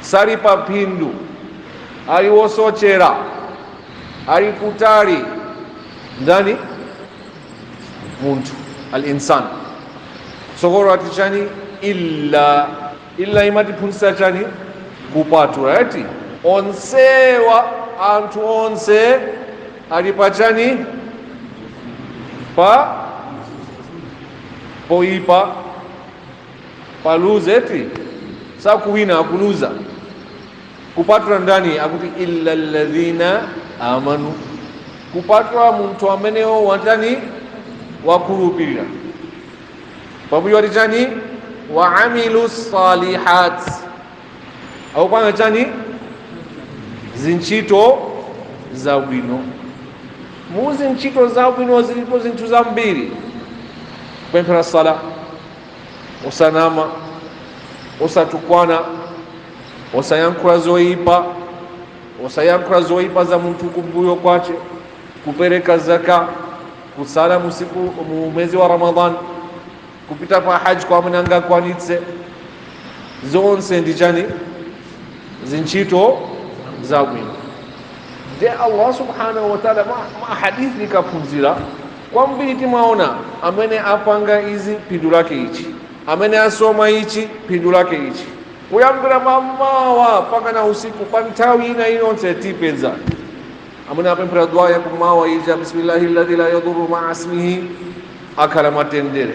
sali pa phindu, ali wosochera, ali kutali. Ndani? Munthu al-insan. Tsogolo ati chani? Illa, illa imatiphunzitsa chani? Kupatula ati onsewa, anthu onse ali pa chani? Pa poipa paluze eti sakuwina akuluza kupatula ndani akuti illa alladhina amanu kupatula munthu ameneyo watani wakhulupirira pambuyo wati chani wa amilu salihat akupanga chani zintchito zabwino mu zintchito zabwino zilipo zinthu zambiri kupemphera sala osanama osatukwana osayankhula zoyipa osayankhula zoyipa za munthu kumbuyo kwace kupereka zaka kusala musiku mu mwezi wa ramadan kupita pa haji kwa amene angakwanitse zonse ndi chani zintchito zabwino nde allah subhanahu wa taala ma, ma hadithi tikaphunzira Kwambiri timaona amene apanga izi phindu lake ichi, amene asoma ichi phindu lake ichi. Kuyambira mamawa mpakana usiku pa nthawi ina iliyonse tipeza amene apemphera dua ya kummawa ija Bismillahilladzi la yadurru ma'a ismihi akhala mwatendere.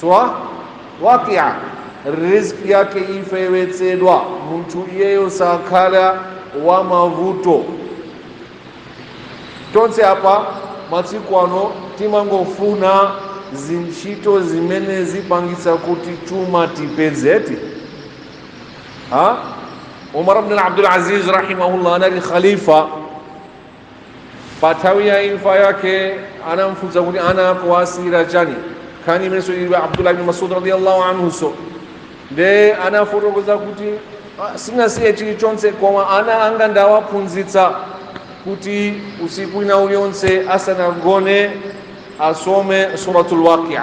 sura waqi'a rizki yake ifewetsedwa munthu iyeyo sakhala wa mavuto tonse apa masiku ano timangofuna zintchito zimene zipangitsa kuti chuma tipezeti ha umar bn abdul aziz rahimahullah anali khalifa Pa nthawi ya imfa yake anamfunsa kuti ana ako asiyira chani nkhani imeneyinso ili abdullah ibn masud radiyallahu anhunso nde anafotokoza kuti "Ah, sinasiye chilichonse koma ana anga ndawaphunzitsa kuti usiku wina uliwonse asanagone asome suratul waqia